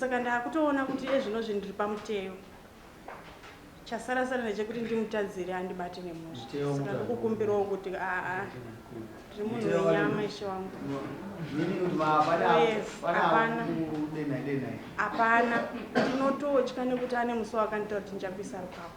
Saka ndakutoona kuti iye zvino zvinhu ndiri pamuteyo. Chasara sara ndechekuti ndimutadzire andibate nemhosva. Saka ndokukumbirawo kuti aa ndiri munhu wenyama ishe wangu. Hapana. Ndinototya nekuti ane musi wakanditaura kuti ndichakuisa rukako.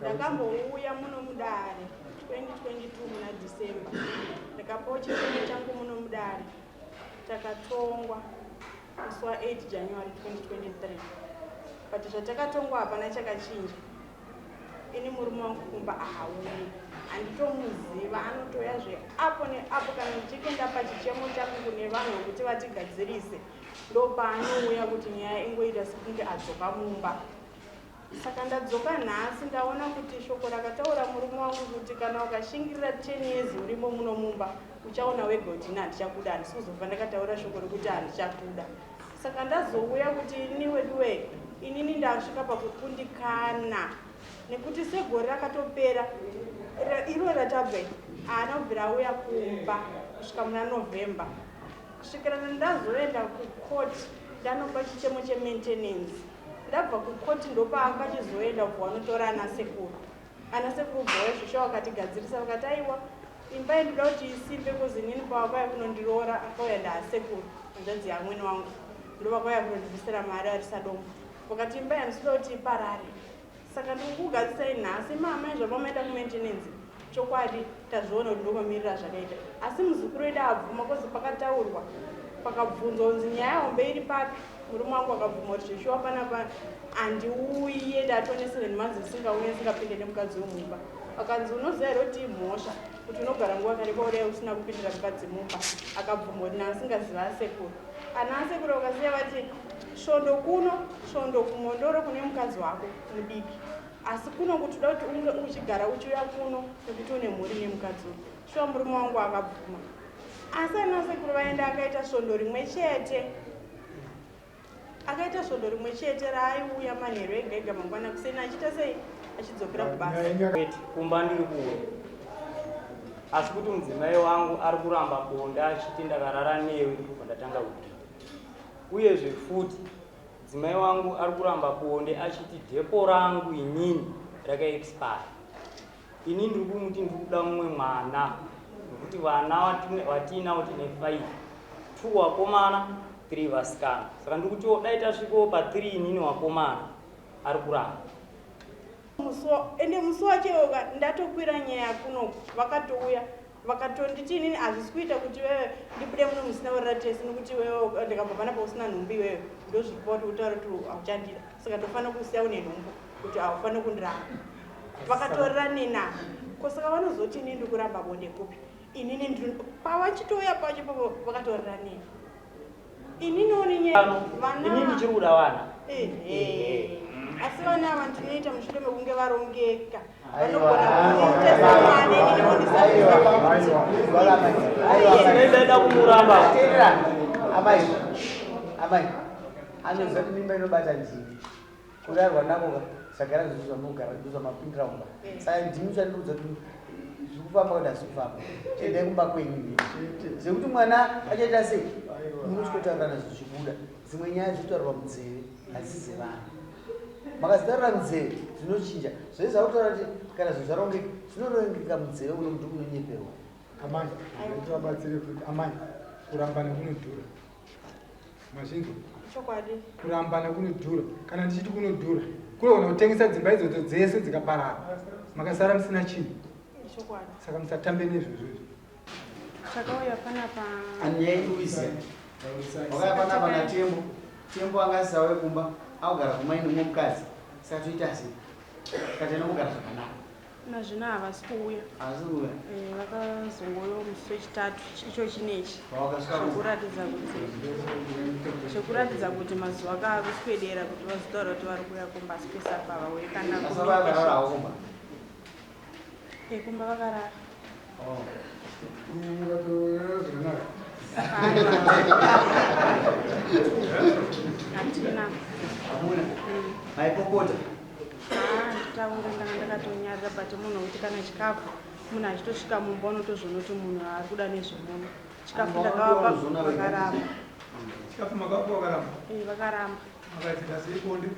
ndakambouya muno mudare 2022 muna december ndakapawo chitemo changu muno mudare takatongwa musi wa 8 january 2023 but zvatakatongwa hapana chakachinja ini murume wangu kumba ahauye handitomuziva anotouya zve apo neapo kana ndichinge ndapa chichemo changu kune vanhu vekuti vatigadzirise ndopaanouya kuti nyaya ingoita sekunge adzoka mumba Saka ndadzoka nhasi ndaona kuti shoko rakataura murume wangu kuti kana ukashingirira 10 years urimo muno mumba uchaona wega kuti ini handichakuda handisi kuzobva ndakataura shoko rekuti handichakuda saka ndazouya kuti ini weduwe inini ndasvika pakukundikana nekuti segore rakatopera iro ratabva haana kubvira auya kumba kusvika muna november kusvikirana ndazoenda kucourt ndanopa chichemo chemaintenance ndabva kukoti ndopavakachizoenda kubva vanotora ana sekuru ana sekuru bhoya zvesha vakatigadzirisa vakati aiwa imba yendoda kuti isimbe kozi inini pavakauya kunondiroora akauya ndaasekuru hanzvadzi yamwene wangu ndovakauya kunondibvisira mari arisadombo vakati imba yandisida kuti iparare saka ndikukugadzisai nhasi mama izvava maenda kumaintenance chokwadi tazviona kuti ndomamirira zvakaita asi muzukuru wedu abvuma kozi pakataurwa pakabvunzwa kunzi nyaya hombe iri papi murume wangu akabvuma kuti zveshuwa panapa handiuye ndatonesere ndimanzi ndisingauye ndisingapinde nemukadzi wemumba akanzi unoziva here kuti imhosva kuti unogara nguva kare kwaudai usina kupindira mukadzi mumba akabvuma kuti naasingaziva asekuru ana asekuru vakasiya vati Svondo kuno, svondo kuMhondoro kune mukadzi wako mudiki. Asi kuno kuti uda kuti unge uchigara uchiuya kuno nekuti une mhuri nemukadzi uyu. Shuwa murume wangu akabvuma. Asi ana sekuru vaenda akaita svondo rimwe chete. Akaita svondo rimwe chete raaiuya manheru ega ega mangwana kuseni achiita sei achidzokera kubasa. Wait, kumba ndiri kuuya. Asi kuti mudzimai wangu ari kuramba bonde achiti ndakarara newe ndipo pandatanga kuda. Uyezve futi dzimai wangu ari kuramba bonde achiti depo rangu inini raka expire. Ini ndiri kumuti ndiri kuda mumwe mwana nekuti vana vatiinavo tine five, two wakomana three vasikana saka ndiri kutiwo dai tasvikawo pa three inini wakomana ari kuramba. Musi ende musi wacho iwoka ndatokwira nyaya kunoku vakatouya. Vakatonditi inini hazvisi kuita kuti iwewe ndibude muno musina kurara tese nokuti iwewe ndikabva panapa usina nhumbu iwewe ndozvipa kuti utaure kuti hauchandida saka ndofanira kusiya une nhumbu kuti haufaniri kundiramba vakatorera nina ko saka vanozoti inini ndikuramba bonde kupi inini pavachitouya pacho papo vakatorera nina Ini noni nyama. Ini ndichiri kuda vana. Eh, eh. Asi vana ava ndinoita mushure mekunge varongeka. Vanogona kuita samwana ini ndinonisaiwa. Ndaida kumuramba. Amai. Amai. Anoziva kuti mimba inobata nzii. Kurarwa nako ka sagara zvichizwa nogara zvichizwa mapindira kumba. Eh. Saka ndimi chandiudza kuti zvikufamba kuti hazikufamba. Chendai kumba kwenyu nini. Zvekuti mwana achaita sei? Muri chikotaura nazvo zvichibuda. Dzimwe nyaya dzinotaurwa munzeve hadzize vanhu. Makazitarira munzeve zvinochinja. Zvese zvakutaura kuti kana zvinhu zvarongeka zvinorongeka munzeve uno muti unonyeperwa. Amai, ndinotivabatsire kuti amai kurambana kunodhura. Mazvinzwa? Chokwadi. Kurambana kunodhura. Kana ndichiti kunodhura, kunogona kutengesa dzimba idzodzo dzese dzikaparara. Makasara musina chinhu. Chokwadi. Saka musatambe nezvozvo izvi. Chakauya panapa. Anyei uize. Wakauya panapa na Tembo. Tembo anga asisauye kumba, akugara kumai nomumwe mukadzi. Saka toita sei? Saka tinombogara zvakanaka. Nazvino havasi kuuya. Havasi kuuya. Eh, vakazongouya musi wechitatu icho chinechi. Zvekuratidza kuti zvekuratidza kuti mazuva aka ave kuswedera kuti vazotaura kuti vari kuuya kumba asi pese apa havauye kana kumba. Eh, kumba vakarara. maipopota taunga ndanga ndakatonyarira but munhu wekuti kana chikafu munhu achitosvika mumba unotozvonoti munhu ari kuda nezvemunhu chikafu ndakavapa vakaramba chikafu makavapa vakaramba vakaramba makaitikaseikondi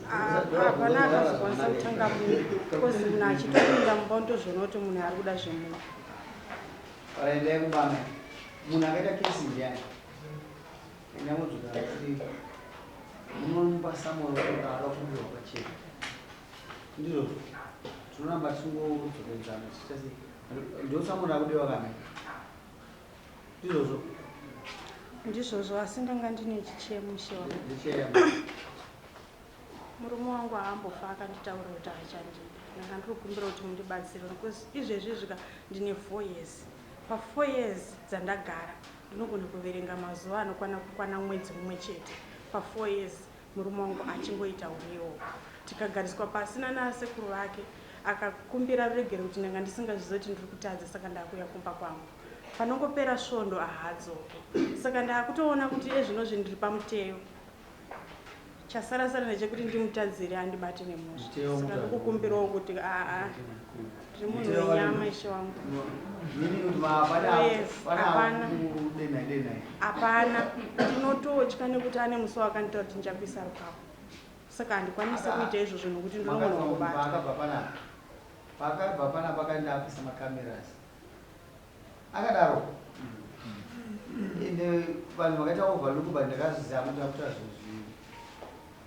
hapana akazokwanisa kutanga munhu because munhu achitopinda mumba unotozoona kuti munhu ari kuda zvemunhu aendai kubana munhu akaita kesi ndiyani endamudzukaaii munomupa samoyo akafumbirwa kwachena ndizvo tinoramba tisingodzokedzana ndosamoyo akudewa kana Ndizvozvo. Ndizvozvo asi ndanga ndine chichemo shewa. Murume wangu haambofa akanditaurira kuti achandipa. Ndanga ndiri kukumbira kuti mundibatsire because izvezvi zvika ndine 4 years. Pa 4 years dzandagara ndinogona kuverenga mazuva anokwana kukwana mwedzi mumwe chete pa 4 years. Murume wangu achingoita hurewo. Tikagariswa pasi nanasekuru vake akakumbira ruregero kuti ndanga ndisingazvizive kuti ndiri kutadza saka ndakuuya kumba kwangu. Panongopera svondo ahaadzoke. Saka ndakutoona kuti iye zvino zvindiri pamuteyo. Chasara sara ndechekuti ndimutadzire andibate nemhosva. Saka ndikukumbirawo kuti aa. zvemunhu wenyama ishe wangu hapana ndinototya nekuti ane musi wakandiita kuti ndichakuisa rukapo saka handikwanise kuita izvozvo nokuti ndinogona kubata pakabva pana pakaenda apisa macameras akadaro ende vanhu vakaita overlook but ndakazviziva kuti akuta zvinhu zvii